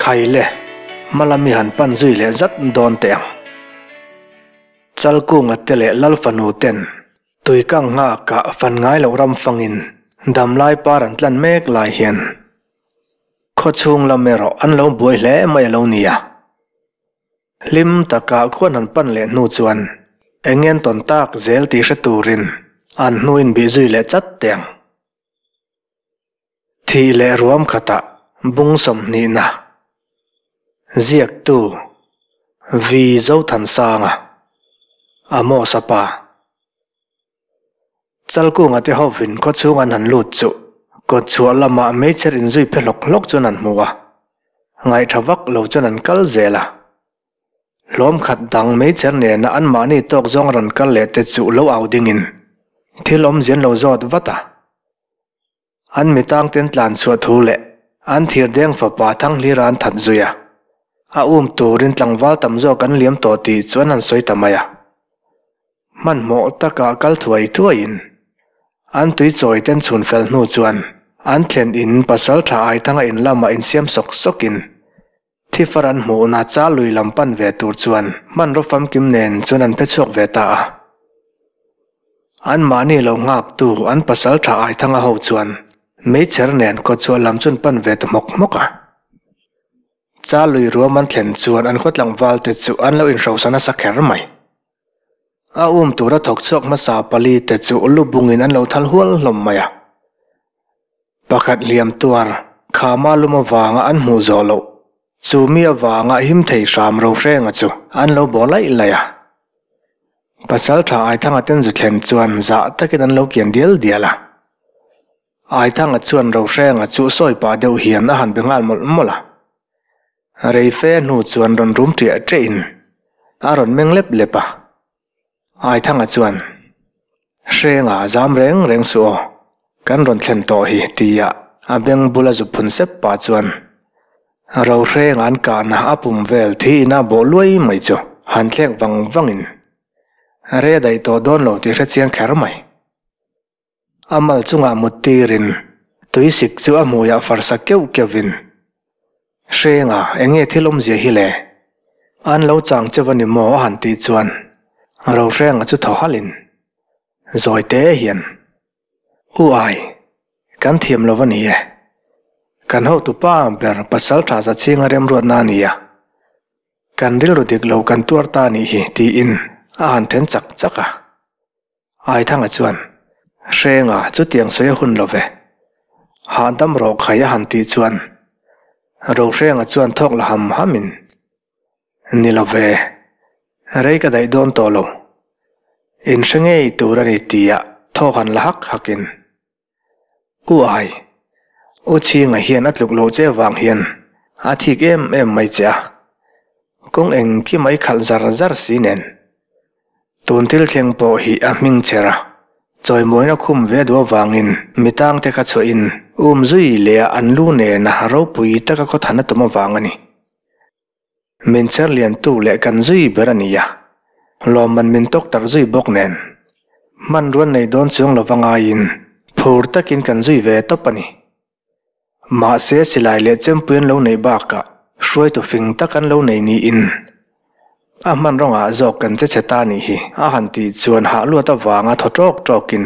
Khai le, hma lam i han pan zui leh zat dawn teh ang. Chal kunga te leh lal fanu ten tui kang nghak ah fan ngai loh ram fang in dam lai par an tlan mek lai hian khaw chhung lam erawh an lo buai hle mai a lo ni a. Hlim tak ah khuan han pan leh hnu chuan eng ngen tawn tak zel tih hre turin an hnu in bih zui leh chat teh ang. Thih leh ruam khatah bung sawmhnihna ziaktu Vi Zothansanga a mawsa pa Chalkunga te hopvin khawchhung an han lut chuh kawtchhuah lama meichher inzui phe hlawk hlawk chuan an hmu a, ngaih tha vak lo chuan an kal zel a. Hlawmkhat dang meicher nena anmahni tawk zawng rawn kal leh te chuh lo au dingin thil awmzian lo zawt vat a. An mitangten tlanchhuah thu leh an thirdeng fapa Thanglira an that zui a, a um turin tlangval tam zawk an liam tawh tih chuan an sawi ta mai a. Hmanhmawh taka kal thuai thuaiin an tuichawi ten chhun fel hnu chuan an thlen in Pasalṭha Aithanga in lamah insiam sawk sawkin, Thifar an hmuh una chal lui lam pan ve tur chuan hmanraw famkim nen chuan an phechhuak ve ta a. An mahni lo nghaktu an pasal tha Aithanga ho chuan meichher nen kawtchhuah lam chuan pan ve ta hmawk hmawk a. Chal lui ruam an thlen chuan an khawtlangvalte chu an lo inhrosa nasa kher mai. A um tura thawk chhuak hmasa pali te chu lu bungin an lo thal hual hlawm mai a. Pakhat hliam tuar khama lum avanga an hmuh zawh loh, chu mi avanga him thei hram rohrenga chu an lo baw laih laih a. Pasaltha Aithanga ten zu thlen chuan zah takin an lo kian dial dial a. Aithanga chuan Rohrengah chu sawi pah deuh hian a han be nghal mawlh mawlh a. Reife hnu chuan rawn rum ṭiah ṭiahin a rawn meng lep lep a. Aithanga chuan, Hrenga zam reng reng suh aw, kan rawn thlen tawh hi, tia a beng bul a zu phun sep pah chuan Rohrenga an kahna a pum vel thi ina bawh luai mai chu han thlek vang vangin rei a daih tawh dawn lo tih hre chiang kher mai. A mal chungah mut tirin Tuisik chu a hmuiah farsa keuh keuh in, Hrenga, eng nge thil awmzia hi le? An lo chang che va ni maw? a han tih chuan Rohreng-a chu thaw halh in, Zawite hian, U ai, kan thiam lo a ni e. Kan hotu pa ber pasaltha zachhinga remruatna a ni a, kan rilru dik lo kan tuar ta a nih hi, tiin a han then chak chak a. Aithanga chuan, Hrenga chutiang sawi a hun love. Hahdam rawh khai a han tih chuan Rohrenga chuan thawk la ham hamin, Ni love, rei ka daih dawn tawh lo. In hre ngei tur a ni tiah thawk han la hak hakin. U Ai, U Chhinga hian a tluk lo che vang hian a thik em em mai che a, kawng engki mai khalh zar zar si nen. Tun thil thleng pawh hi a hming chher a, chawimawina khum ve duh avangin mi tang te kha chhuahin um zui leh a an lu nena ropui taka khawthan a tum avang a ni. Min cher lian tu leh kan zui ber a nia, lawmman min tawk tak zui bawk nen, hmanrua nei dawn chuang lova ngaiin phur takin kan zui ve tawp a ni. Mahse silai leh chempui an lo neih bakah hruaitu fing tak an lo nei niin a hmanrawnga zawk kan che che ta nih hi a han tih chuan hahluat avanga thaw tawk tawkin,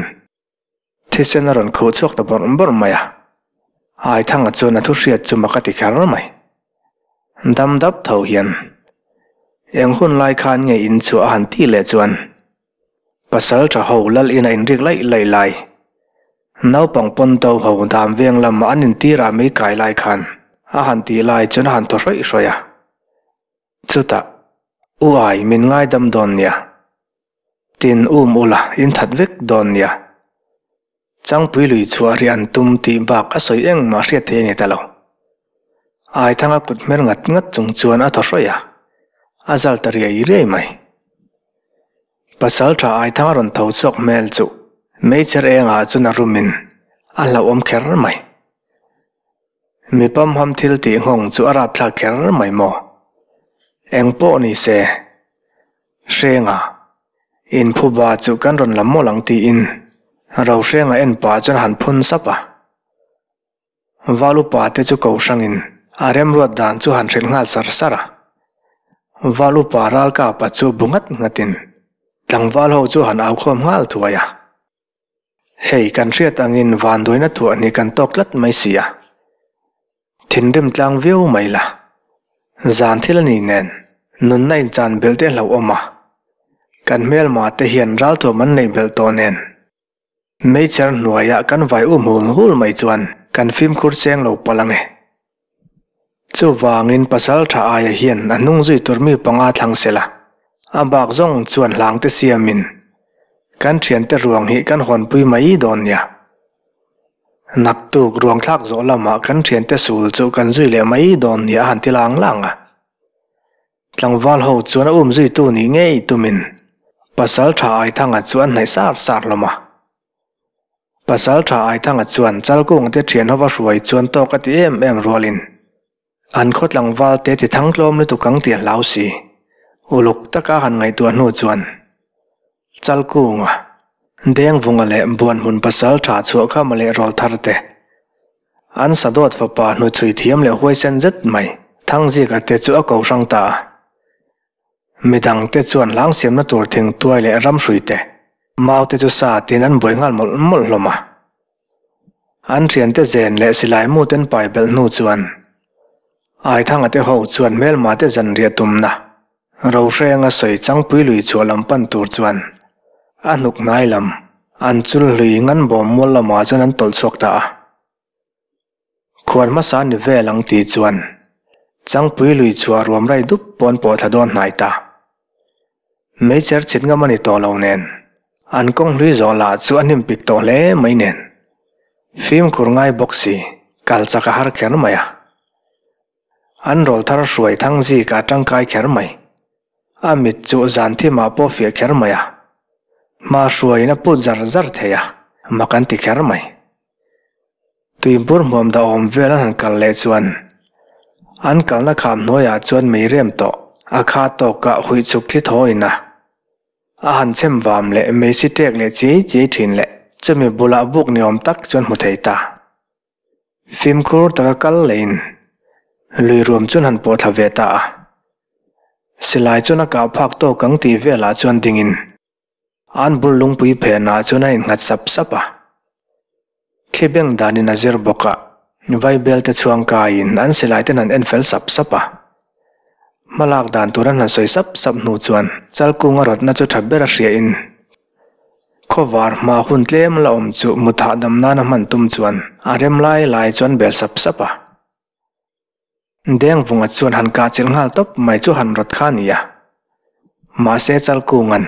Thisen a rawn khuh chhuak ta bawrh bawrh mai a, Aithanga chuan a thuhriat chu maka ti kher mai. Dam dap tho hian, Eng hun lai khan nge in chhuah a han tih leh chuan, Pasalṭha ho lal in a inrik laih laih lai, Naupang pawn to ho dam veng lamah an intir a mei kai lai khan a han tih lai chuan a han thaw hrawih hrawih a. Chutah, U ai, min ngaidam dawn nia. Tin um ula, in that vek dawn nia. Changpui lui chu a rian tum tih bak a sawi eng mah hriat theih a ni ta lo. Aithanga kut hmer ngat ngat chung chuan a thaw hrawih a, a zal ta riai riai mai. Pasal tha Aithanga rawn tho chhuak hmel chu Meicher engah chuan a rum in a hlauhawm kher mai. Mi pamham thil tih nghawng chu a rapthlak kher mai maw? Eng pawh ni se, Hrenga in phuba chu kan rawn la mawlh ang tiin Rohrenga en pa chuan han phun sap a. Val upa te chu kohrangin a remruat dan chu han hrilh nghal sar sar a. Val upa ralkapa chu bu ngat ngatin tlangval ho chu han aukhawm nghal thuai a. Hei, kan hriat angin vanduaina thuah ni kan tawk tlat mai si a, thinrim tlang viau mai la, zan thil a nih nen nunna inchan belh teh hlauh awm a, kan hmelmah te hian ralthuam an neih belh tawh nen meichher hnuaiah kan vai um hul hul mai chuan kan fimkhur cheng lo palh ang e. Chuvangin Pasalṭha aia hian a hnung zui tur mi panga thlang sela, a bak zawng chuan hlangte siamin kan ṭhiante ruang hi kan hawnpui mai dawn nia. Naktuk ruangthlak zawh lama kan ṭhiante sul chu kan zui leh mai dawn nia a han ti lang lang a. Tlangval ho chuan a um zuitu nih ngei tumin Pasalṭha aithanga chu an hnaih sar sar hlawm a. Pasal tha Aithanga chuan chal kungte thianho va hruai chuan tawk a ti em em rualin an khaw tlangval te ti thang tlawm lutuk ang tih a hlau si. Uluk taka han ngaihtuah hnu chuan chal kunga dengvunga leh buan hmun pasal tha chhuahkhama leh rawl thar te, an sadawt fapa hnuchhui thiam leh huaisen zet mai Thangzika te chu a kohrang ta a. Mi dangte chuan hlang siamna tur thingtuai leh ramhruite, maute chu sa tiin an buai nghal mawlh mawlh hlawm a. An thiante zen leh silaimuten paibelh hnu chuan Aithangate ho chuan hmelmate zanriah tumna rohrenga sawi changpui lui chhuah lam pan tur chuan a hnuk hnai lam an chul hlui ngan bawm mual lamah chuan an tawlh chhuak ta a. Khuan hmasa ni vel ang ti chuan Changpui lui chhuah ruam raih dup pawn pawh thla dawn hnai ta. Meicher chhit ngam a ni tawh lo nen, an kawng hlui zawh lah chu a hnim pik tawh hle mai nen. Fimkhur ngai bawk si, kal chak a har kher mai a. An rawl thar hruai thang zik a tangkai kher mai. A mit chu zan thim ah pawh fiah kher mai a. Hma hruaiin a put zar zar thei a, mak an ti kher mai. tui bur hmuam dah awm vel an han kal leh chuan an kalna kham hnuaiah chuan mei rem tawh a kha tawkah huih chhuk thli thaw in a a han chhem vam leh mei si ṭek leh chiai chiai ṭhin leh chumi bulah buk ni awm tak chuan hmu thei ta. Fimkhur taka kal leh in lui ruam chuan han pawh thla ve ta a, silai chuan a kah phak tawk ang tih velah chuan ding in An bul lungpui phenah chuan a innghat sap sap a. Thli beng danin a zir bawkah Vaibel te chhuang kaiin an silai ten an en fel sap sap a. Hma lak dan tur an han sawi sap sap hnu chuan Chalkunga rawtna chu tha ber a hriain khawvar hma hun tlem la awm chu mut hahdam nan a hman tum chuan a rem lai lai chuan bel sap sap a. Dengvunga chuan han kahchilh nghal tawp mai chu han rawt kha nia. Mahse Chalkunga'n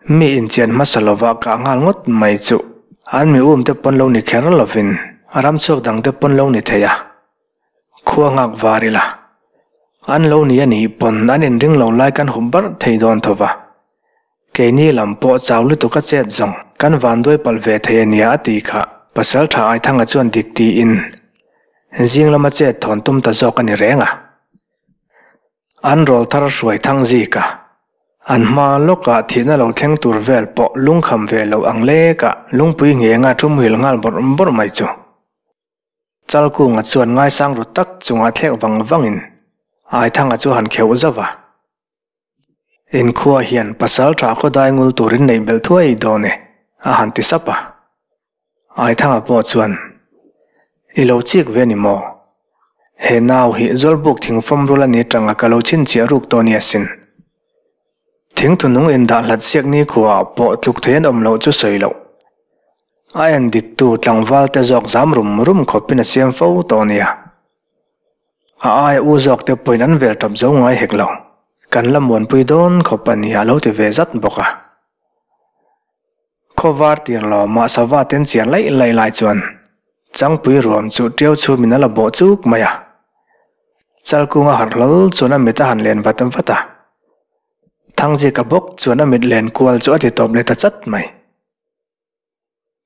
mi inchian hmasa lova kah nghal ngawt mai chu an mi umte pawn lo ni kher lovin ram chhuak dangte pawn lo ni thei a. Khua nghak var ila an lo ni anih pawn an inring lo lai kan hup barh thei dawn tho va. Keini lam pawh chau lutuk a chet zawng kan vanduai palh ve thei a nia a ti kha. Pasal tha Aithanga chuan dik tiin, Zing lama chet thawn tum ta zawk a ni reng a. An rawl thar hruai thang zik a. An hma lawkah thihna lo thleng tur vel pawh lung kham ve loh ang lekah lungpui ngenga thumhil nghal bawrh bawrh mai chu. Chal kunga chuan ngaisang ru tak chungah thlek vang vangin Aithanga chu han kheuh zauh a. In khua hian pasal tha khaw dai ngul turin neih belh thuai i dawn e, a han ti sap a. Aithanga pawh chuan, I lo chik ve ni maw? He nau hi zawlbuk thing fawm rul a ni atanga ka lo chhinchhiah ruk tawh ni asin. Thing thunung in dah hlat siak nikhua ah pawh tluk thei an awm loh chu sawi loh. A en diktu tlangval te zawk zam rum rum khawpin a siam fo tawh a nia. A aia u zawkte pawhin an vel tawp zo ngai hek lo. Kan la muanpui dawn khawp a nia a lo ti ve zat bawk a. Khaw var tir lawm a sava ten chian laih laih lai chuan Changpui ruam chu ṭiau chhumin a la bawh chuk mai a. Chalkung a harh hlawl chuan a mit a han len vat vat a. Thangjik a bawk chuan a mit len kual chu a ti tawp leh ta chat mai.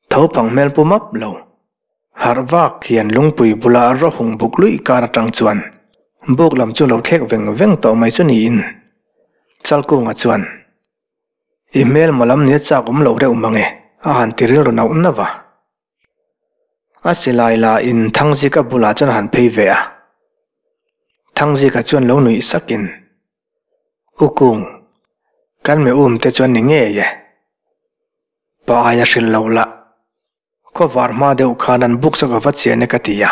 Tho pang hmel pu map lo. Harh vak hian lungpui bula a rohung buk luih kar atang chuan buk lam chu lo thlek veng veng tawh mai chu niin. Chalkunga chuan, I hmel maw lam nia chak awm loh reuh mang e, a han ti rilru nauh nauh a. A silai la in Thangzika bulah chuan a han phei ve a. Thangzika chuan lo nuih sakin, U Kung, kan mehum te chuan ni ngei e. Pa ai a hrilh loh lah. Khawvar hma deuh khan an buk zawk ava chian e ka ti a.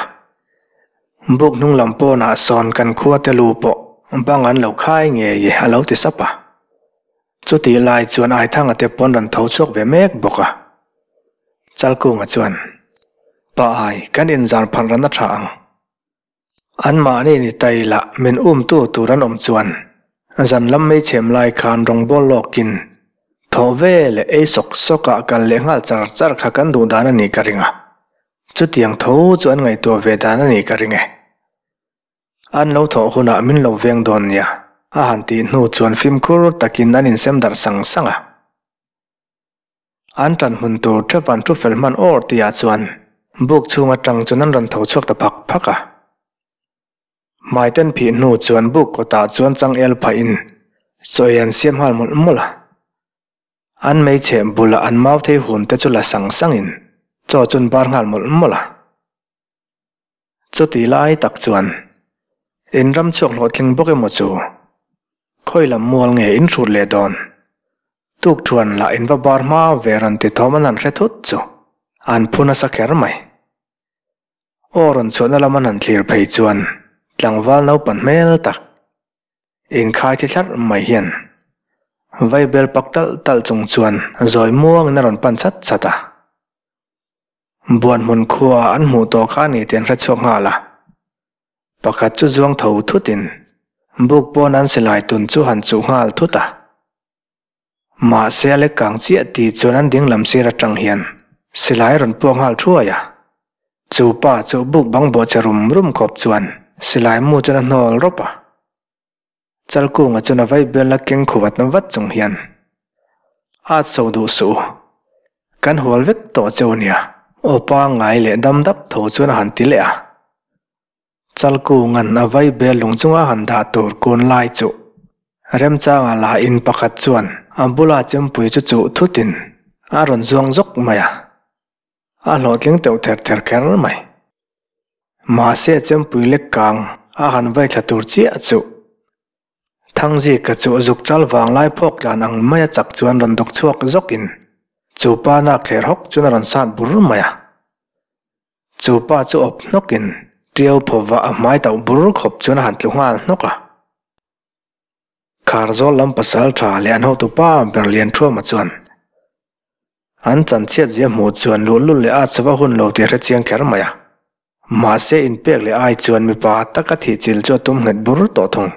Buk hnunglam pawnah sawn kan khuate lu pawh bang an lo khai ngei e a lo ti sap a. Chutih lai chuan Aithanga te pawn rawn tho chhuak ve mek bawk a. Chalkunga chuan, Pa ai, kan inzar phalh ran a tha ang. An mahni ni tai lah min umtu tur an awm chuan zan lam mei chhem lai khan rawngbawl lawk in thawh vel leh ei sawk sawk ah kal leh nghal char char kha kan duh dan a nih ka ring a, chutiang tho chu an ngaihtuah ve dan a nih ka ring e. An lo thawh hun ah min lo veng dawn nia a han tih hnu chuan fimkhur tak in an in sem darh sang sang a. An tan hmun tur thap an thu fel hman awr ti ah chuan buk chhung atang chuan an rawn tho chhuak ta phak phak a. Hmai ten phih hnu chuan buk kawt ah chuan changel phah in chawi an siam nghal mawlh mawlh a. An mei chhe bul ah an mau thei hum te chu la sang sang in chaw chun bar nghal mawlh mawlh a. Chuti lai tak chuan in ram chhuak hlawhtling bawk emaw chu? Khawi lam mual nge in hrut leh dawn? Tukthuan lah in va bar hma ve rawn ti thawm an han hre thut chu an phu nasa kher mai. Aw rawn chhuahna lam an han thlir phei chuan tlangval naupan hmel tak in khai thi thlar mai hian vaibel pak tal tal chung chuan zawi muangin a rawn pan chat chat a. Buan hmun khua an hmuh tawh kha ni tian hre chhuak nghal a, pakhat chu zuang tho thut in, Buk pawn an silai tun chu han chuh nghal thut a, mahse a lekkang chiah tih chuan an ding lam sir atang hian silai rawn puak nghal thuai a, chu pa chu buk bang bawhchhe rum rum khawp chuan silai mu chuan a hnawl rawp a. Chalkunga chuan a vaih belna keng khuh a tam vat chung hian, A chho duh suh u, kan hual vek tawh che u nia. Aw pa ngai leh dam dap tho chuan a han ti leh a. Chalkunga'n a vaih bel lung chunga han dah tur kun lai chu Remchanga la in pakhat chuan a bula chempui chu chuh thutin a rawn zuang zawk mai a. a hlawhtling teuh ther ther kher mai. Mahse Chempui lek kang a han vai thla tur chiah chuh Thangzika chu zuk chal vang lai phawk tlan ang mai a chak chuan rawn dawk chhuak zawk in chu pa nak theh hrawk chuan a rawn sat bur mai a. Chu pa chu awp hnawk in tiau phaw vah a hmai tauh bur khawp chuan a han tlu nghal hnawk a. Khar zawl lam pasal tha leh an hotu pa ber lian thuama chuan an chanchhiat zia hmuh chuan luhnlul leh a chava hun lo tih a hre chiang kher mai a. Mahse in pek leh ai chuan mipa taka thih chil chu a tum nghet bur tawh thung.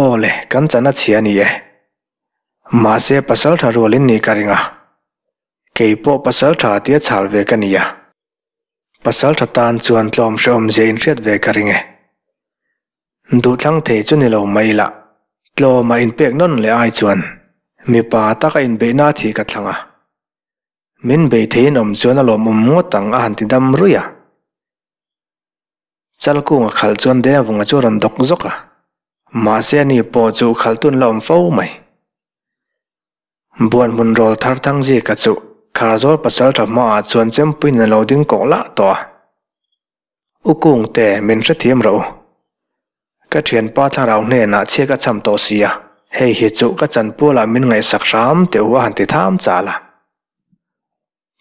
Aw le kan chan a chhia ni e. Mahse pasal tha rual in nih ka ring a. Kei pawh pasal tha tia chhal ve ka ni a. Pasal tha tan chuan tlawm hreawm zia in hriat ve ka ring e. Duhthlang thei chu ni lo mai lah. Tlawm a inpek nawn leh ai chuan mipa tak a inbeihna thih ka thlang a. Min beih theiin awm chuan a lawm awm ngawt ang a han ti dam rui a. Chal kung a khalh chuan Devanga chu a rawn dawk zawk a, mahse ani pawh chu khal tun la awm fo mai. Buan hmun rawl thar thang zika chu khar zawl pasal tha hmaah chuan chempuiin a lo ding kawh lah tawh a. U Kungte, min hrethiam rawh u. Ka thianpa Thlarau hnenah chhiak a cham tawh sia, hei hi chu ka chanpualah min ngaihsak hram teuh a han ti tham chal a.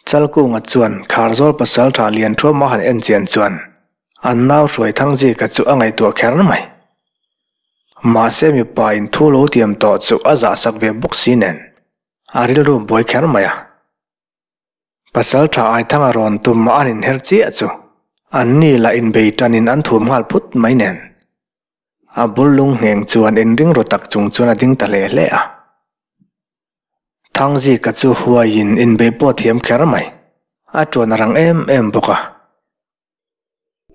Chalkunga chuan khar zawl pasal tha lian thuama han en chian chuan an nau hruai Thangzika chu a ngaihtuah kher mai. Mahse mipain thu lo tiam tawh chu a zahsak ve bawk si nen a rilru buai kher mai a. Pasal tha Aithanga rawn tum a an inher chiah chu. An ni lah inbei tan in an thup nghal phut mai nen. A bul lung ngheng chuan in ring ru tak chung chuan a ding ta hle hle a. Thangzika chu huai in inbei pawh a thiam kher mai. A tuan a rang em em bawk a.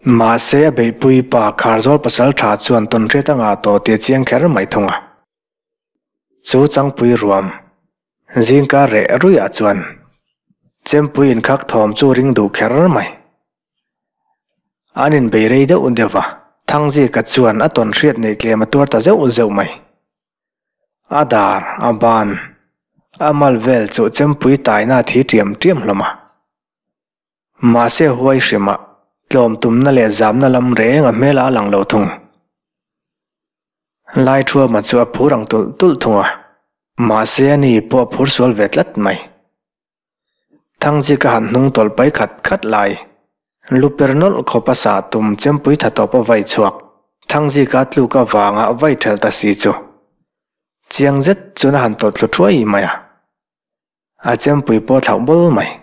Mahse a beihpui pa khar zawl pasal tha chuan tawn hriat anga tawh tih a chiang kher mai thung a. Chu changpui ruam zingkar reh ruiah chuan Chempui inkhak thawm chu ring duh kher mai. An inbei rei deuh deuh a, Thangzika chuan a tawn hriat neih tlem a tuar ta zeuh zeuh mai. A dar, a ban, a mal vel chu Chempui taina thi tiam tiam hlawm a. Mahse huai hrim ah tlawm tumna leh zamna lam reng a hmel a lang lo thung. Lai thuama chu a phur ang tulh tulh thung a, mahse ani pawh a phur sual ve tlat mai. Thangzika a han hnung tawlh pai khat khat lai. Lu per nawlh khawp a sa tum chempui tha tawp a vai chhuak. Thangzika tluk avang ah vai thel ta si chu chiang zet chun a han tawlh thlu thuai mai a. A chempui pawh thlauh bul mai.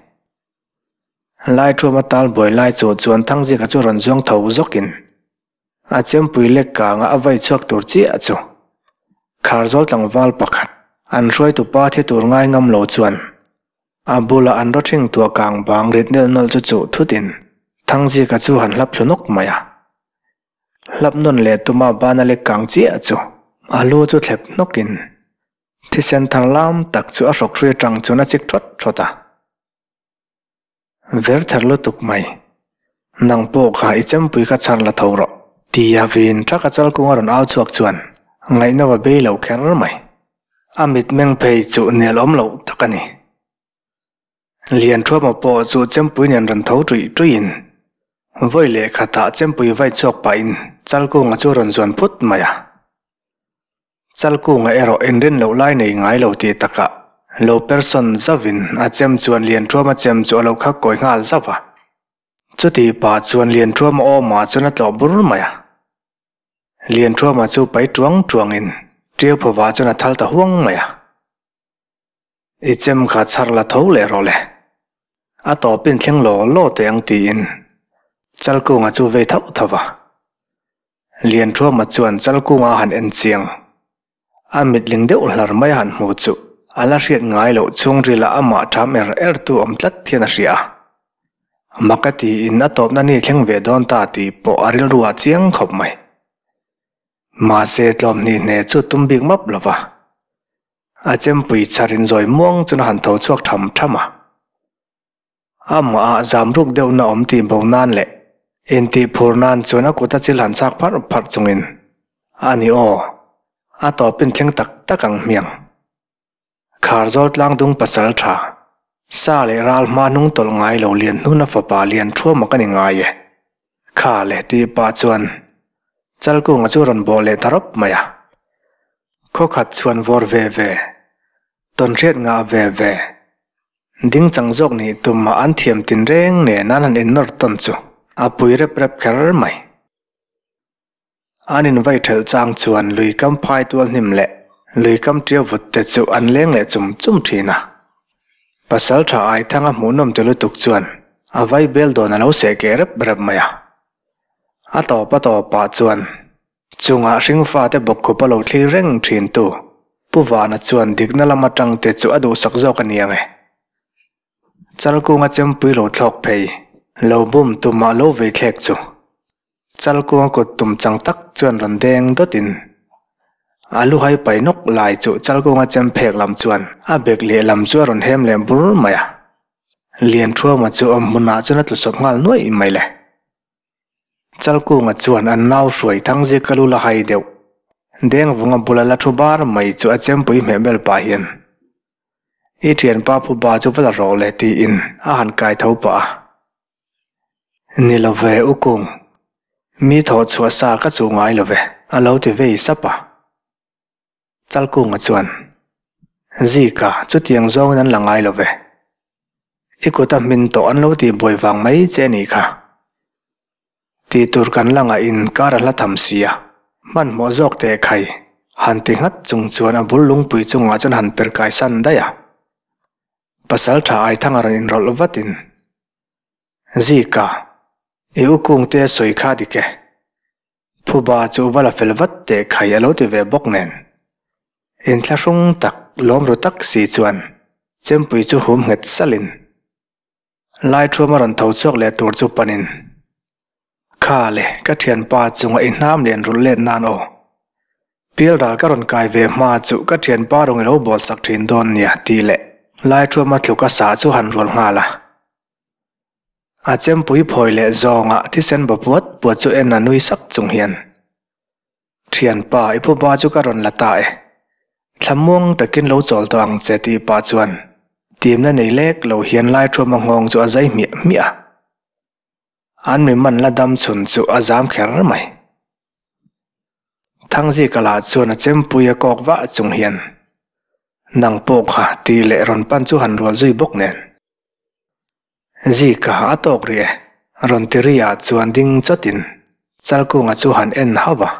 Laithuama tal buai lai chu chuan thang zika chu rawn zuang tho zawkin a chempui lek kanga a vai chhuak tur chiah chu khar zawl tlangval pakhat an hruaitu pa thi tur ngai ngam lo chuan a bula an rawhthing tuah kang bang rit nel nawlh chu chuh thutin thang zika chu han hlap thlu nawk mai a. Hlap nawn leh tuma bana lek kang chiah chu a lu chu thlep hnawkin Thisen thar lam tak chu a hrok ri atang chuan a chik thawt thawt a. Ver ther lutuk mai. Nang pawh kha i chempui kha chhar la tho rawh. Ti a vin thak a chal kung a rawn au chhuak chuan ngaihno a bei lo kher mai. A mitmeng phei chu nel awm loh tak a ni. Lianthuama pawh chu chempui nen rawn tho ṭuih ṭuihin vawi leh khatah chempui vai chhuak pahin chal kunga chu a rawn zuan phut mai a. Chalkûnga erawh inrin loh lai nei ngai lo tih taka lo per sawn zauhin a chem chuan Lianthuama chem chu a lo khak kawi nghal zauh a. Chuti pah chuan Lianthuama awmah chuan a tlawh bur mai a. Lianthuama chu pai ṭuang ṭuangin Ṭiauphovah chuan a thal ta huang mai a. I chem kha chhar la tho leh rawh le. A tawpin thleng law law teh ang tiin Chalkunga chu vei thauh thauh a. Lianthuama chuan Chalkunga han en chiang. A mitling deuh hlar mai a han hmuh chu a la hriat ngai loh chhungrila amah tham er er tu awm tlat hian a hria a. Maka tiin a tawpna ni thleng ve dawn ta tih pawh a rilru a chiang khawp mai. Mahse tlawmhni hne chu tum bik map lova. A chempui chhar inzawi muang chun a han tho chhuak tham tham a. Amah zamruk deuhna awm tih bo nan leh intih phur nan chuan a kuta chil han chak pharh pharh chungin, A ni aw, a tawpin thleng tak tak ang hmiang. Khar zawl tlang dung pasal tha, sa leh ral hma hnung tawlh ngai lo lian hnuna fapa lian thuama ka ni ngai e. Kha leh ti pa chuan Chalkunga chu rawn bawh leh ta rawp mai a, khaw khat chhuan vawr ve ve, tawn hriat ngah ve ve, ding chang zawk nih tumah an thiam tin reng nen a an han innawr tawn chu a pui rep rep kher mai. An invaithel chang chuan lui kam phai tual hnim leh lui kam ṭia vut te chu an leng leh chum chum ṭhin a. Pasal ṭha Aithanga hmuhnawm ti lutuk chuan a vai bel dawn a lo seh keh rep rep mai a. A tawp a tawp ah chuan chungah hringfa te bawk khup a lo thlir reng ṭhin tu Pu Vana chuan dikna lam aṭang te chu a duhsak zawk a nia nge. Chalkunga chempui lo thlawk phei, lo bum tum ah lo vei thlek chu. Chal kua kut tum chang tak chuan rawn deng dawt in a lu hai pai nawk lai chu chal kunga chem phek lam chuan a bek leh lam chu a rawn hem leh bur mai a. Lian thuama chu awm hmun ah chuan a tlu sawp nghal nuaih mai le. Chal kunga chuan a nau hruai thang zika lu la hai deuh deng vunga bula la thu bar mai chu a chem pui hmeh ber pah hian I thianpa phuba chu va la rawh le tiin a han kai tho pah a. Ni lo ve u kung. Mi thawh chhuah sa ka chu ngai lo ve. A lo ti vei sap a. Chalkunga chuan, Zika, chutiang zawngin an la ngai lo ve. I kuta hmin tawh an lo ti buai vang mai che ni kha. Ti tur kan la ngah in kara hla tham si a. Hmanhmawh zawk teh khai, han ti nghat chung chuan a bul lungpui chungah chuan han per kai san daih a. Pasal tha Aithanga rawn inrawlh vatin, Zika, i u kung te sawi kha dik e. Phuba chu u bala fel vat teh khai a lo ti ve bawk nen. In thla hrung tak, lawmru tak si chuan Chempui chu hum nghet salin, Laithuam a rawn tho chhuak leh tur chu panin, Kha le, ka thianpa chunga i hnam leh enrulh let nan aw. Pilral ka rawn kai ve hma chu ka thianpa rawng i lo bawlsak thin dawn nia tih leh Laithuama tluk a sa chu han rual nghal a. A chempui phawi leh zawngah thisen bapuat puat chu en a nui sak chung hian. Thianpa, i puba chu ka rawn la ta e. Thlamuang takin lo chawl tawh ang che tih pah chuan timna nei lek lo hian Laithuama nghawng chu a zai hmiah hmiah a. An miman la dam chhun chu a zam kher mai. Thangzika lah chuan a chempui a kawk vah chung hian, Nang pawh kha tih leh rawn pan chu han rual zui bawk nen. Zika a tawk ri e? a rawn ti ri a chuan ding chawt in Chalkunga chu han en hauh a.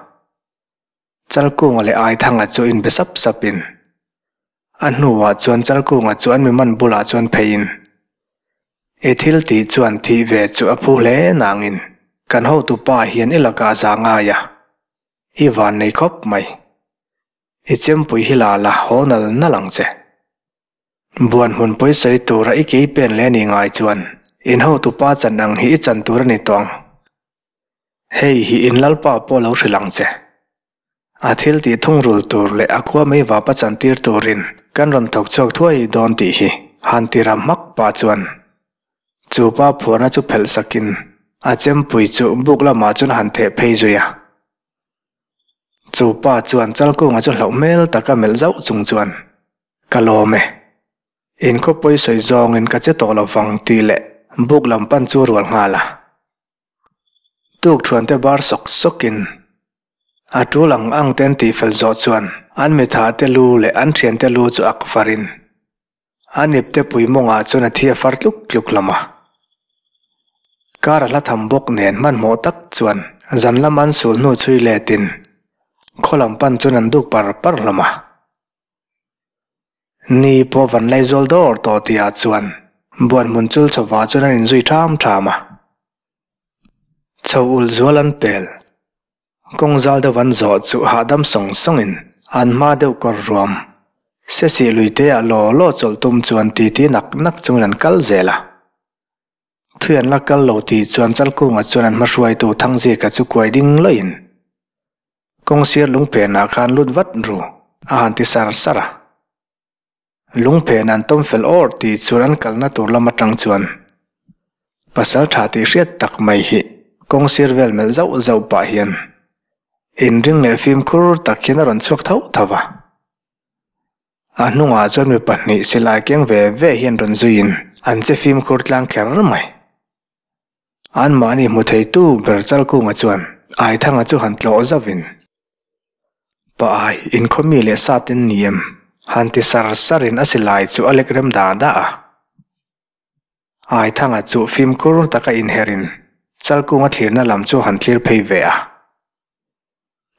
Chalkunga leh Aithanga chu inbe sap sap in a hnuah chuan Chalkunga chu an mi man bulah chuan phei in I thil tih chuan thih ve chu a phu hle nang in kan hotu pa hian I lakah a za ngai a, I van nei khawp mai. I chempui hi la la haw nal nal ang che. Buan hmun pawisawi tura i kei pen leh ni ngai chuan in hotu pa chan ang hi i chan tur a ni tawh ang. Hei hi in lalpa pawh lo hrilh ang che. A thil tih thungrul tur leh a khua mai vapa chantir turin kan rawn thawk chhuak thuai dawn tih hi han ti ram hmak pah chuan chu pa phuarna chu phelh sakin a chempui chu buk lamah chuan han theh phei zui a. Chu pa chuan chalkunga chu hlauh hmel tak a melh zauh chung chuan, Ka lawm e. In khaw pawi sawi zawngin ka che tawh lo vang tih leh buk lam pan chu rual nghal a. Tukṭhuante bar sawk sawkin a ṭul ang angte an tih fel zawh chuan an mithate lu leh an ṭhiante lu chu ak varin A nepte puimawngah chuan a thi a far tluk tluk hlawm a. Car a hla tham bawk nen hmanhmawh tak chuan zan lam an sul hnu chhui let in khaw lam pan chuan an duk par par hlawm a. Ni pawh van lei zual dawr tawh tih ah chuan buan hmun chul chawva chuan an in zui ṭham ṭham a. Chho ul zual an pel. Kawng zal deuh an zawh chuh hahdam sawng sawngin an hma deuh kawr ruam. Sesi lui teah law law chawlh tum chuan ti ti nak nak chungin an kal zel a. Thui an la kal lo tih chuan chal kungah chuan an hmahruaitu Thangzika chu kuai ding luaihin kawng sir lungpenah khan lut vat ru a han ti sar sar a. Lungphen an tawm fel awrh ti chuan an kalna tur lam atang chuan pasal tha tih hriat tak mai hi kawng sir vel melh zauh zauh pah hian inring leh fimkhur tak hian a rawn chhuak tho tho a. A hnungah chuan mi pahnih silai keng ve ve hian rawn zuiin an che fimkhur tlang kher mai. An mahni hmu thei tu ber chal kungah chuan Aithanga chu han tlawh zauh in, Pa Ai, in khaw mi leh sa ten ni em? han ti sar sar in a silai chu a lek rem da da a. Aithanga chuh fim kur taka inher in chal kunga thlirna lam chu han tlir phei ve a.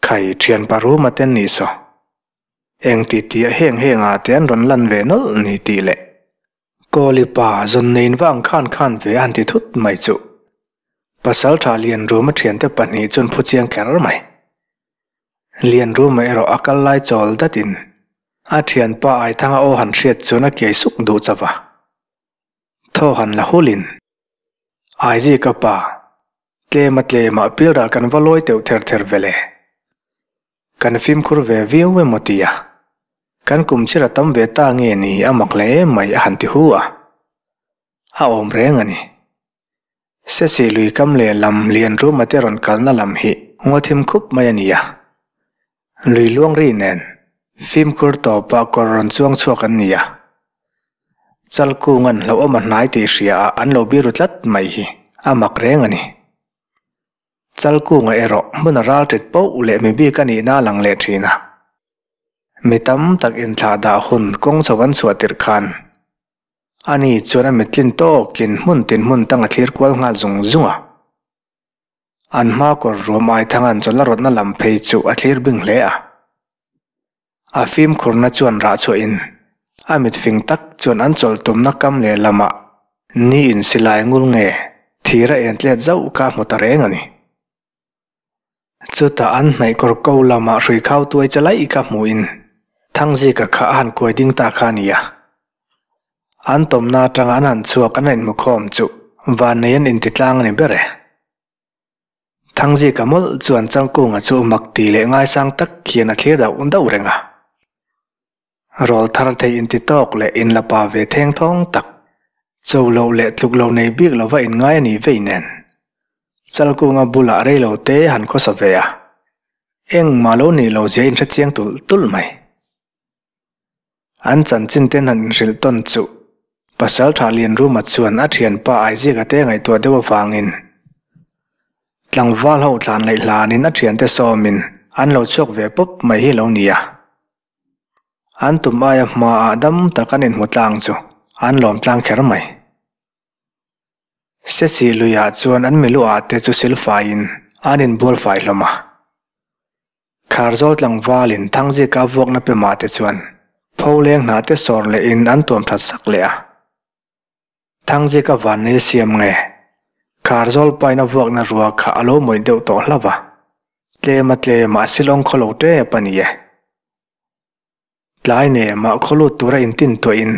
Khai, thian pa ruma ten ni saw, eng ti ti a heng heng ah te an rawn lan ve nawlh ni tih leh Kawli pa zawn nein vang khan khan ve an ti thut mai chuh. Pasal tha Lianruma thiante pahnih chuan phu chiang kher mai. Lianruma erawh a kal lai chawl dat in a thianpa Aithanga aw han hriat chuan a kiai suk duh chauh a. Thaw han la hul in, Aizi ka pa, tlema tlema pilral kan va lawi teuh ther ther vele. Kan fimkhur ve viau emaw tia kan kum chhir a tam ve ta nge ni a mak leh em mai a han ti hu a. A awm reng a ni. Se si lui kam leh lam lian ruma te rawn kalna lam hi ngaw thim khup mai a ni a. Lui luang ri nen fimkhur tawpah kawr rawn chuang chhuak an ni a. Chal kunga'n hlauhawm a hnai tih hriaah an lo biru tlat mai hi a mak reng a ni. Chal kunga erawh hmun a ral tit poh leh mi bik a nihna a lang leh thin a. Mi tam tak inthlah dah hun kawng chho an chhuah tirh khan a ni chuan a mittlin tawkin hmun tin hmun tang a thlir kual nghal zung zung a. An hma kawr ruam aithanga an chawlh na rawtna lam phei chu a thlir bing hle a. A fimkhurna chuan rah chhuah in a mit fing tak chuan an chawlhtumna kam leh lamah ni in silai ngul nge thir a en tlet zauh kha hmu ta reng a ni. Chutah an hnaih kawr ko lamah hrui khau tuai che laih kha hmuh in Thangzika kha a han kuai ding ta kha a ni a. An tawmna atanga an han chhuak an rainhmukhawm chu vannei an intitlang a ni ber e. Thangzika mawlh chuan Changkunga chu mak ti leh ngaisang tak hian a thlir dauh dauh reng a. Rawl thar thei intitawk leh inlapa ve theng thawng tak, cho loh leh tluk lo nei bik lova inngai a nih vei nen. Chalkunga bulah rei lo te han khawsa ve a, engmah lo nih lo zia inhre chiang tulh tulh mai. An chanchin ten han inhrilh tawn chuh. Pasal tha Lianruma chuan a thianpa Isaac-a te ngaihtuah deuh avangin, tlangval ho tlan laih hlanin a thiante sawmin an lo chhuak ve pawp mai hi lo ni a. An tum aia hmaah dam tak an inhmu tlang chu an lawm tlang kher mai. Sesi luiah chuan an miluaate chu silfaiin an inbual fai hlawm a. Thlar zawl tlangvalin Thangzika vuakna pe mahte chuan Pholeng hnahte sawr lehin an tuam that sak leh a. Thangzika vannei siam nge Thlar zawl paina vuakna rual kha a lo mawih deuh tawh hlauh a, tlema tlema a silawng khaw lo tep a ni e. Tlai nen mah khawlut tura intintuahin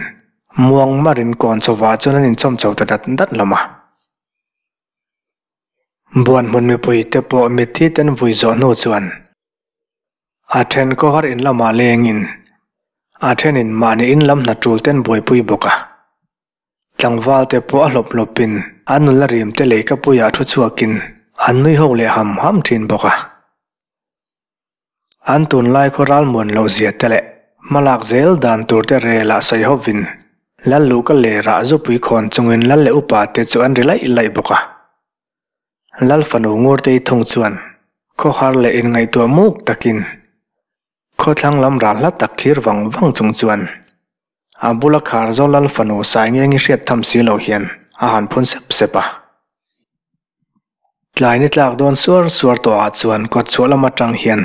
muang mar in kawn chho vah chuan an inchawm chho ta dat dat hlawm a. Buan hmun mipui te pawh mitthi ten vui zawh hnu chuan a then kawhar in lamah lengin a thenin mahni in lam hna tul ten buaipui bawk a. Tlangval te pawh a hlawp hlawp in an nula rim te lei ka puiah thu chhuak in an nui ho leh ham ham thin bawk a. An tunlai khaw ralmuan loh zia te leh hmalak zel dan tur te rel ah sawi hawp vin lal luh ka ler ah zupui khawn chung in lal leh upa te chu an ri laih laih bawk a. Lal fanu ngur te i thung chuan khaw har leh in ngaihtuah muk tak in khaw thlang lam ral hla tak thlir vang vang chung chuan A bula khar Zolal fanu Saingeng i hriat tham si lo hian a han phun sep sep a. Tlai ni tlak dawn suar suar tawh ah chuan kawt chhuah lam atang hian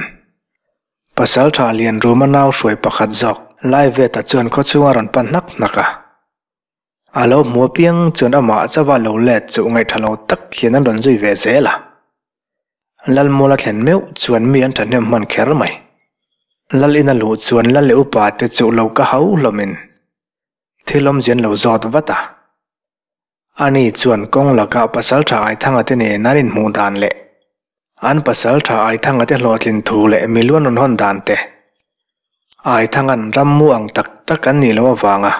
pasal tha lian ruma nau hruai pakhat zawk lai vet ah chuan khawchhung a rawn pan hnak hnak a. A lo hmu apiang chuan amah chauh a lo let chuh ngaihthalo tak hian an rawn zui ve zel a. Lalmawla thlen meuh chuan mi an thahnem hman kher mai. Lal ina luh chuan Lal leh upa te chu lo ka hau hlawmin thil awmzian lo zawt vat a. Ani chuan kawng lakah Pasalṭha Aithanga te nen an inhmuh dan leh an Pasalṭha Aithanga te hlawhtlin thu leh mi luan rawn hawn dan te, Aithangan rammu ang tak tak an nih loh avanga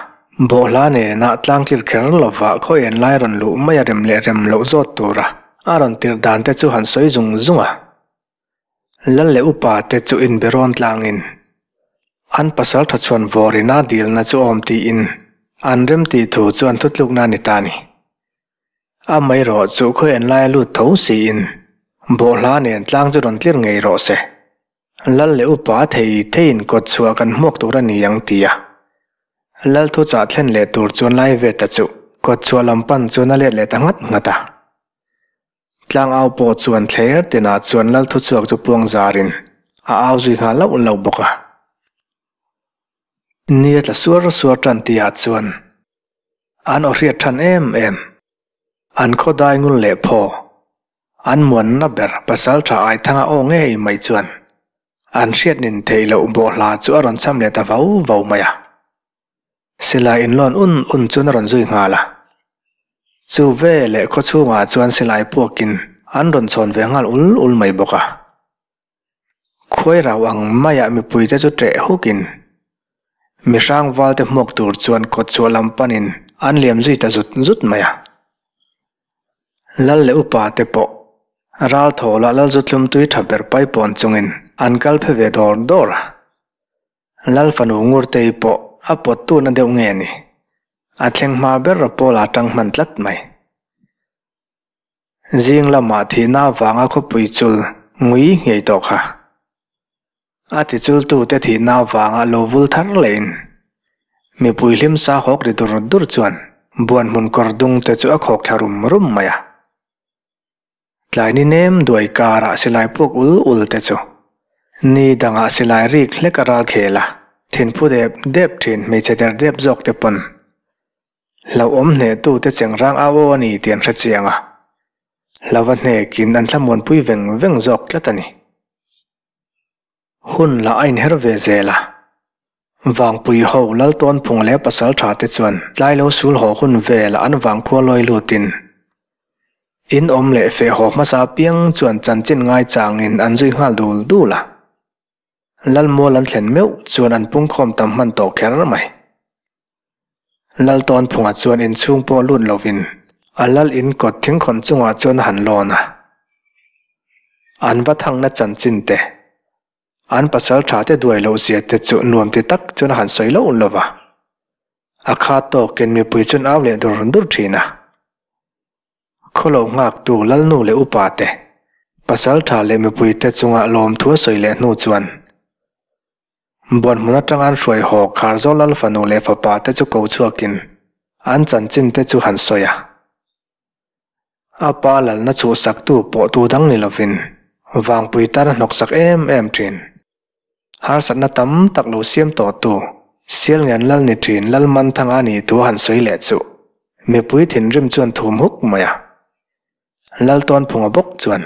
bawhhla nenah tlangtlir kher lovah khawiain lai rawn luh mai a rem leh rem loh zawt tura a rawn tirh dan te chu han sawi zung zung a. Lal leh upa te chu inberoan tlangin an pasal tha chhuan vawrin a dilna chu awm tiin an rem tih thu chu an thutlukna a ni ta a ni. A mai rawh, chu khawi en lai a lut tho si in bawh hla nen tlang chu rawn tlir ngei rawh se. Lal leh upa thei thei in kawt chhuah kan hmuak tur a ni ang ti a. Lalthu chah thlen leh tur chuan lai ve ta chu kawt chhuah lam pan chuan a let leh ta nghat nghat a. Tlang au pawh chuan thler tenah chuan lal thu chhuak chu puang zarin a au zui nghal lauh lauh bawk a. Nia tla suar suar tan tihah chuan an aw hriat than em em. An khaw dai ngul leh pho. An muanna ber pasal tha ai thang a aw ngei mai chuan an hriat nin theih loh bawh hla chu a rawn cham leh ta vau vau mai a. Silai inlawn un un chuan a rawn zui nghal a. Chu ve leh khaw chhungah chuan Silai puakin an rawn chhawn ve nghal ul ul mai bawk a. Khuai rau ang maiah mipuite chu treh hukin mi hrangvalte hmuak tur chuan kawtchhuah lam panin an liam zui ta zut zut mai a. Lal leh upa te pawh ral thaw lah Lalzutlum tui tha ber pai pawn chungin an kal phe ve dawr dawr a. Lalfanu Ngurtei pawh a pawt tuna deuh nge ni? A thleng hma ber a Paula tang hman tlat mai. Zing lamah thihna vanga khawpui chul ngui nghei tawh kha. A tichul tute thihna vanga lo vul thar lehin mipui hlimsa hawk ri dur dur chuan buan hmun kawr dungte chu a khawk thla rum rum mai a. Tlai ni nem duai karah silai puk ul ul te chu ni dangah silai rik hlek a ral khel a, thinphu dep dep thin hmeichhe der dep zawk te pawn hlauhawm hnehtu te chengrang a aw a ni tih an hrechiang a, hlauva hnekin an thlamuanpui veng veng zawk tlat a ni. Hun lah a inher ve zel a. Vangpui ho Laltawnphung leh Pasaltha te chuan tlai lo sul haw hun vel an vang khua lawi lut in in awm leh feh haw hmasa apiang chuan chanchin ngai chang in an zui nghal dul dul a. Lalmual an thlen meuh chuan an pungkhawm tam hman tawh kher mai. Lal tawn phungah chuan inchhung pawh lut lovin a lal in kawt thingkhawn chungah chuan a han lawn a. An va thangna chanchin te, an pasal tha te duai loh zia te chu nuam ti tak chuan a han sawi lo lo va. A khat tawkin mipui chuan au leh dur dur thin a. Khaw lo nghak tu Lalnu leh upa te, pasal tha leh mipui te chunga lawmthua sawi leh hnu chuan Buan hmun atanga an hruai hawk khar zawk lal fanu leh fapa te chu ko chhuakin an chanchin te chu han sawi a. A pa lalna chuh saktu pawh tu dang ni lovin vangpui tan a hnawk chak em em thin. Harsatna tam tak lo siam tawhtu Sialngian lal ni thin Lalmanthanga nih thu a han sawi leh chuh mipui thinrim chuan thum huk mai a. Laltuan phunga bawk chuan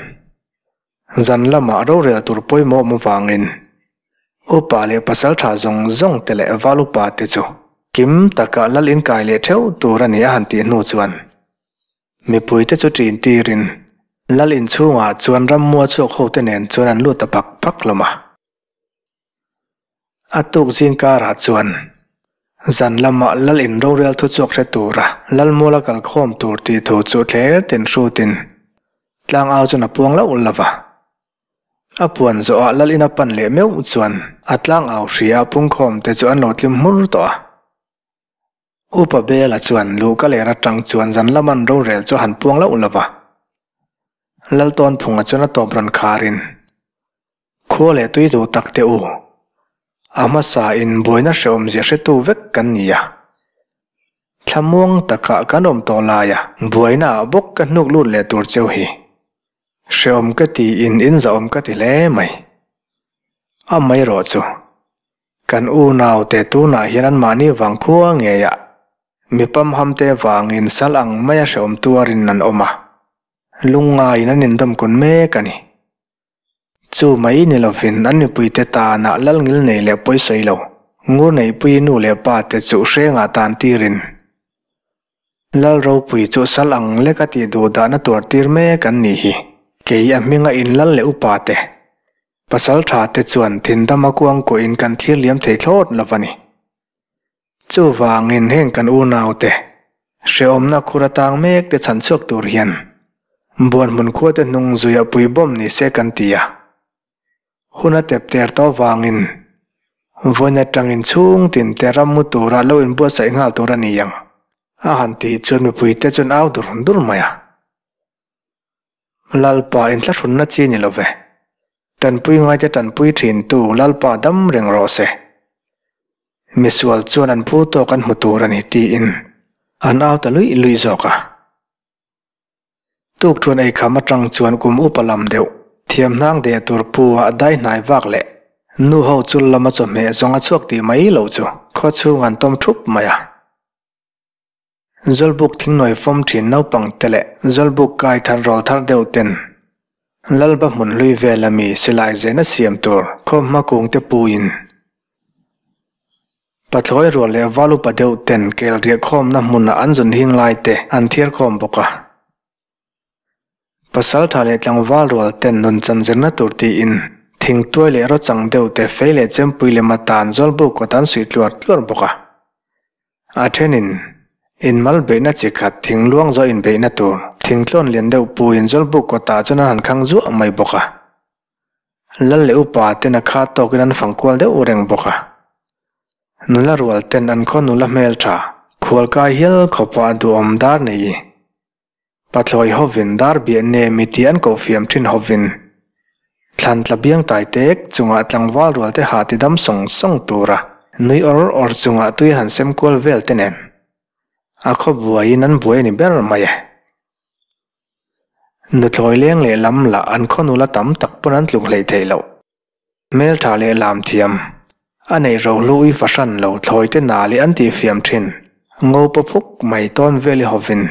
zan lama rorel tur pawimawh mavangin upa leh pasal tha zawng zawng te leh val upa te chu kim taka lal inkai leh theuh tur a ni a han tih hnu chuan mipui te chu ṭin tirin lal inchhungah chuan ram mua chhuak ho te nen chuan an lut ta phak phak hlawm a. A tuk zingkarah chuan zan lama lal in rorial thu chhuak hre tura lalmuala kal khawm tur tih thu chu thler ten hrutin tlang au chuan a puang lauh lo va. A puan zawhah lal in a pan leh meuh chuan a tlang au hriah pungkhawm te chu an lo tlim hmur tawh a. Upa Bela chuan, Luh ka leh Ratang chuan zan laman rorel chu a han puang loh lova. Laltawnphunga chuan a tawp rawn khar in, Khuaw leh tui duh tak teh u. A hmasa in buaina hrehawmzia hretu vek kan ni a. Thlamuang takah kan awm tawh lai a. Buaina ah bawk ka hnuk lut leh tur cheu hi. Hrehawm ka ti in in zahawm ka ti hle mai. Amaherawhchu, Kan unaute tunah hian anmahni vang khua ngeia mi pamhamte vangin sal ang maia hrehawm tuarin an awm a, lungngaiin an indawm kun mek a ni. Chu mai ni lovin an mipuite tana lal ngil nei leh pawi sawi lo, Ngurneihpui nu leh pa te chu hrengah tan tirin lal ropui chu sal ang lek a tih duhdahna tur tir mek an ni hi. Kei a hminga in lal leh upa te Pasaltha te chuan thin dama kuang kuahin kan thirliam thei thlawt lo a ni. Chuvangin heng kan unau te, hrehawmna khur atang mek te chhan chhuak tur hian buan hmun khua te hnung zui a pui bawm ni se kan ti a. Hun a tep ter tawh avangin vawiin atangin chhung tin te ram mu tura lo in buatsaih nghal tur a ni ang a han tih chuan mipui te chuan au dur dur mai a. Lalpa in thlahrunna chi ni lo ve. Tanpui ngaite tanpui thin tu Lalpa dam reng rawh se. Misual chuan an phu tawk an hmu tur a ni tiin an au ta luih luih zawk a. Tukṭhuan ei kham aṭang chuan kum up a lam deuh. Thiamhnang deh tur pu ah dai hnai vak leh nu ho chul lama chawhmeh zawng a chhuak tih mai lo chu khaw chhung an tawm ṭhup mai a. Zawlbuk thingnuai fawm thin naupangte leh Zawlbuk kai thar rawl thar deuh ten Lalba hmun hlui vel a mi silai zena siam tur Khawhma kungte pu in Pathlawi rual leh Valupa deuh ten kel riah khawmna hmun ah an zun hing lai te an thiar khawm bawk a. Pasalṭha leh tlangval rual ten nun chan zirna tur tiin, thingtuai leh rochang deuh te fei leh chempui lem atan zawlbuk kawtan suih tluar tluar bawk a. A ṭhenin, in mal beihna chi khat, thing luang zawh in beihna tur, thingtlawn lian deuh puin zawlbuk kawtah chuan an han khang zuah mai bawk a. Lal leh upa ten a khat tawkin an fang kual deuh reng bawk a. Nula rual ten an khaw nula hmeltha khual kai hial khawpa a duhawm dar nei i. Pathlawi hovin dar biah nem i ti an kohfiam thin hovin thlan tla biang tai tek chungah tlangval rual te hah tidam sawng sawng tura nui awr awr chungah tui a han sem kual vel te nen. A khaw buaiin an buai a ni ber mai e. Nuthlawi leng leh lam lah an khaw nula tam tak pawn an tluk hleih theih loh. Hmeltha leh lamthiam a neih ro hlu i fahran lo thlawi te na leh an tih fiam thin. Ngopa phuk mai tawn vel i hovin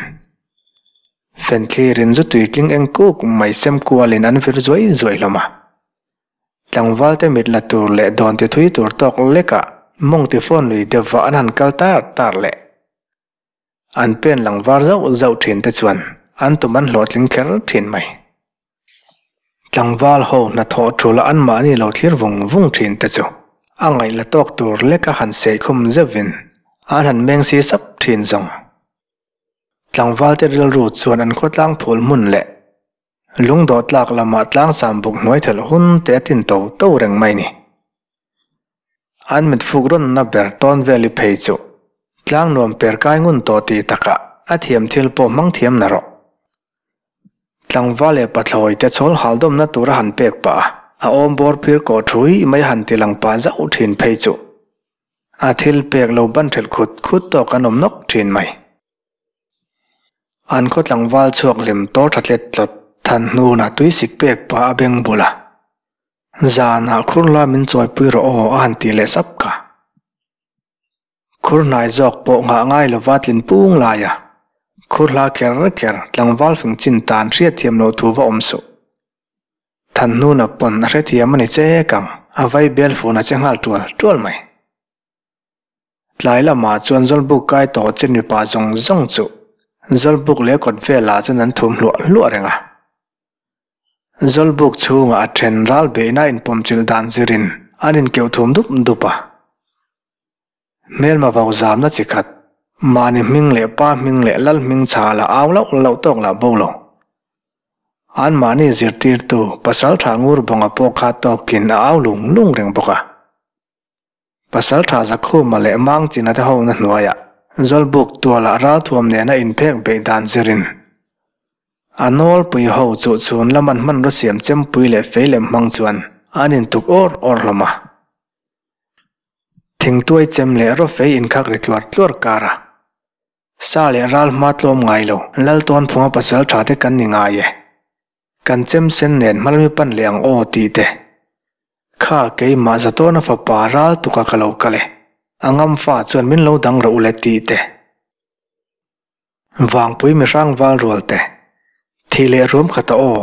fenthlir in zutui tling eng kuk mai sem kual in an vir zuai zuai hlawm a. Tlangvalte mit la tur leh dawn ti thui tur tawk lekah mawng ti fawn lui deuh vah an han kal tar tar leh. An pen lang var zauh zauh thin te chuan an tum an hlawhtling kher thin mai. Tlangval ho hnathawh thu la an mahni lo thlir vung vung thin te chu a ngaih la tawk tur leka han sei khum zeuh in an han meng si sap thin zawng. Tlangvalte rilru chuan an khawtlang phul hmun leh Lungdawh tlak lamah tlang sam buk hnuai thelh hun te a tin to to reng mai ni. An mitfuk rawnna ber tawn vel i phei chu tlang nuam per kai ngun tawh ti takah a thiam thil pawh hmang thiam na rawh. Tlangva leh pathlawi te chawl haldawmna tura han pek pah a, a awm bawr phir kawh thui mai han ti lang pah zauh thin phei chu a thil pek lo ban thelh khut khut tawk an awm nawk thin mai. An khaw tlangval chhuak lem tawr tha tlet tlawt than hnunah tui sik pek pa a beng bul a, zanah khur la min chawipui rawh aw a han tih leh sap kha. Khur hnai zawk pawh nghah ngai lova tlin pung lai a, khur hla ker ker tlangval fing chin tan hriat thiam loh thu va awm suh. Than hnuna pawn a hrethiam a ni che kang, a vai bel funa che nghal tual tual mai. Tlai lamah chuan Zawlbuk kai tawh chen mipa zawng zawng chu Zawlbuk leh kawt velah chuan an thu hluah hluah reng a. Zawlbuk chhungah a then ral beihna inpawmchilh dan zirin an inkeuh thum dup dup a. Hmelma vau zamna chi khat, mahni hming leh pa hming leh lal hming chhah la au loh loh tawk lah bo lo. An mahni zirtirtu Pasalṭha ngur bawngah pawh khat tawkin a au lung lung reng bawk a. Pasalṭha zakhuma leh mangchina te hona hnuaiah Zawlbuk tuala ralthuam nena inphek beih dan zirin a nawlpui ho chu chhun lama hmanraw siam chempui leh fei lem hmang chuan an intuk awr awr hlawm a. Thingtuai chem leh raw fei inkhak ri tluar tluar kara sa leh ral hma tlawm ngailo lal tawn phunga pasalṭha te kan ni ngai e. Kan chem sen nen hmalmi pan leh ang aw tih te kha keimah za tawna fapa ral tuka ka lo kal e, a ngamfa chuan min lo dang reuh le tih te. Vangpui mihrang valrual te, thih leh ruam khat a aw,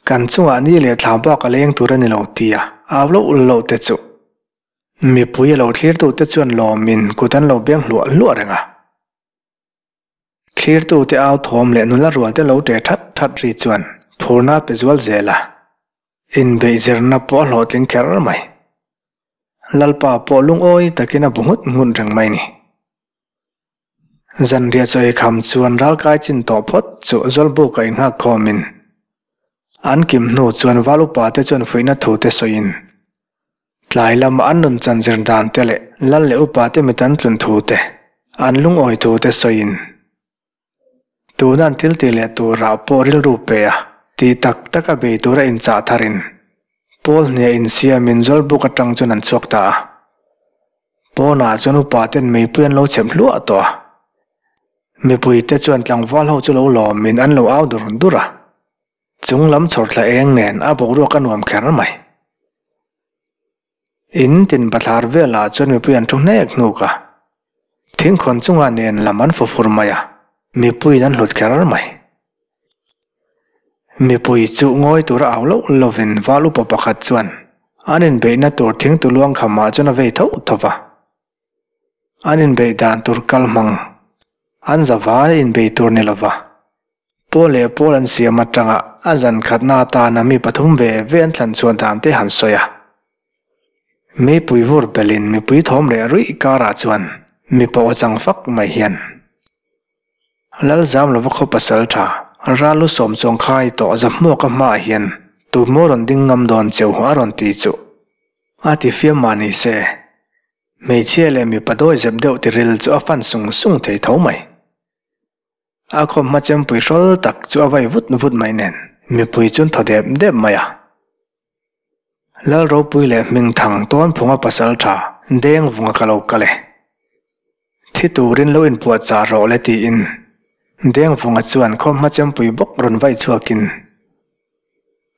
kan chungah ni leh thla bak a leng tur a ni lo tia au loh ul loh te chu mipui a lo thlir deuh te chuan lawmin kut an lo beng hluah hluah reng a. Thlirtute au thawm leh nula rualte lo ṭe ṭhat ṭhat ri chuan phurna a pe zual zel a, inbeihzirna pawh a hlawhtling kher mai. Lalpa pawh lungawi takin a bu nghut nghut reng mai ni. Zanriahchawi kham chuan ral kai chin tawh phawt chu zawlbuk a inhak khawmin an kim hnu chuan Val upate chuan fuihna thute sawiin Tlai lama an rawn chanzir dante leh Lal leh upa te mit an tlun thu te, an lungawi thu te sawiin, tuna an thil ti leh turah pawh rilru pe a ti tak tak a bei tur a inchah thar in, Paul hniah in siam in Zawlbuk atang chuan an chhuak ta a. Pawnah chuan upa ten meipui an lo chhep hluah tawh a. Mipui te chuan tlangval ho chu lo lawm in an lo au dur dur a. Chung lam chhawr tla eng nen a boruak a nuam kher mai. In tin bathlar velah chuan mipui an thu hnek hnuk a. Thing khawn chunga nen lam an fu fur mai a, mipuiin an hlut kher mai. Mipui chuh ngawi tur a au loh lovin val upa pakhat chuan an inbeihna tur thing tuluang khamah chuan a vei tho tho va. An inbeih dan tur kalhmang an za vai inbeih tur ni lova. Pawl leh Paul an siam atanga a zan khatna atana mi pathum ve ve an thlan chhuah dan te han sawi a. Meipui vur belin mipui thawm reh ruih karah chuan mi pawh a chang fak mai hian. Lalzam lova khaw pasal tha, Ral lu sawm chuang khai tawh zahmuak a hmaah hian tumaw rawn ding ngam dawn cheu a rawn ti chuh. A tifiam mah ni se. Hmeichhia leh mipa dawi zep deuh tiril chu a fan sung sung thei tho mai. A khaw hma chempui hrawl tak chu a vai vut vut mai nen mipui chuan thaw dep dep mai a. Lal ropui leh hming thang tawn phunga pasal tha deng vunga ka lo kal e. Thi turin lo inpuah chah rawh le tiin deng vunga chuan khaw hma chempui bawk rawn vaih chhuakin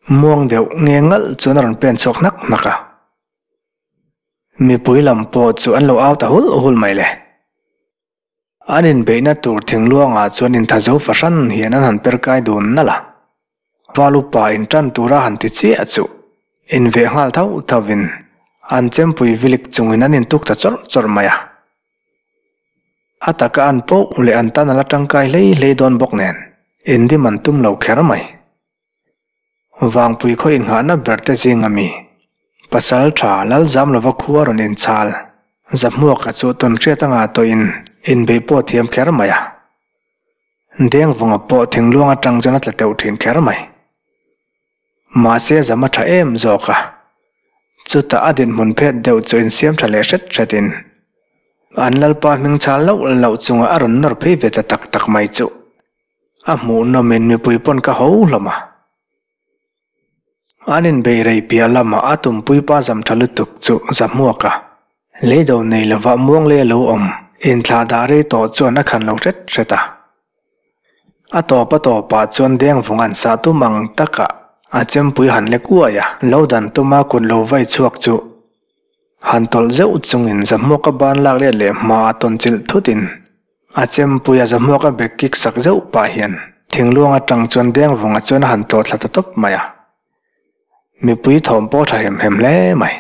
muang deuh nge ngalh chuan a rawn pen chhuak hnak hnak a. Mipui lam pawh chu an lo au ta hulh hulh mai le. An inbeihna tur thingluangah chuan intha zo fahran hian an han per kai dun nalh a. Val upa in tan tura han ti chiah chu inveh nghal tho thovin an chempui vilik chungin an intuk ta chawrh chawrh mai a. A tak a an poh leh an tan a la tangkai hlei hlei dawn bawk nen, in dim an tum lo kher mai. Vang puikhaw inngahna berte zing a mi. Pasal tha Lalzam lova khu a rawn inchhal. Zahmuak a chuh tawn hriat anga tawhin inbeih pawh thiam kher mai a. Dengvanga pawh thingluang atang chuan a tla teuh thin kher mai. Mahse zam a tha em zawk a. Chutah a dinhmun phet deuh chu insiam tha leh hret hretin an Lalpa hming chhal loh loh chunga a rawn nawr phei ve ta tak tak mai chuh. A hmuh nawmin mipui pawn ka ho hlawm a. An inbeih rei piah lamah a tumpui pa zam tha lutuk chu za hmuak a. Lei do nei lovah muanglei a lo awm, inthlah dah rei tawh chuan a khan lo hret hret a. A tawp a tawp ah chuan deng vung an sah tum ang takah a chempui han lek uai a. Lo dan tum a kut lo vai chhuak chu han tawlh zeuh chungin za hmuaka ban lak riat leh hma a tawnchilh thutin. A chempui a zahmuak a bag kik sak zeuh pah hian Thingluang a tang chuan deng vawngah chuan a han tlawh thla ta tawp mai a. Mipui thawm pawh a tha hem hem hle mai.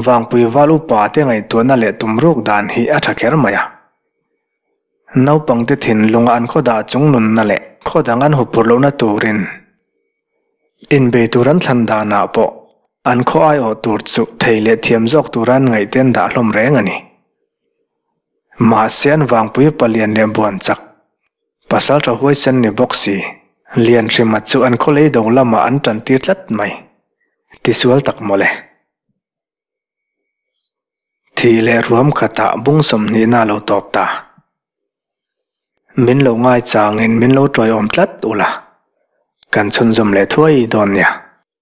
Vangpui val upa te ngaihtuahna leh tum ruk dan hi a tha kher mai a. Naupangte thinlunga an khaw dah chung nunna leh khaw dang an hupur lohna turin inbei tur an thlan danah pawh an khaw aiawh tur chu thei leh thiam zawk tura an ngaihte an dah hlawm reng a ni. Mahse an vangpui palian leh buan chak Pasalṭha huaisen ni bawk si, Lianhrima chu an khawlei do lamah an ṭantir tlat mai. Tisual tak mawle. Thih leh ruam khatah bung sawmhnihna lo tawp ta. Min lo ngaichangin min lo ṭawiawm tlat ula kan chhunzawm leh thuai dawn nia.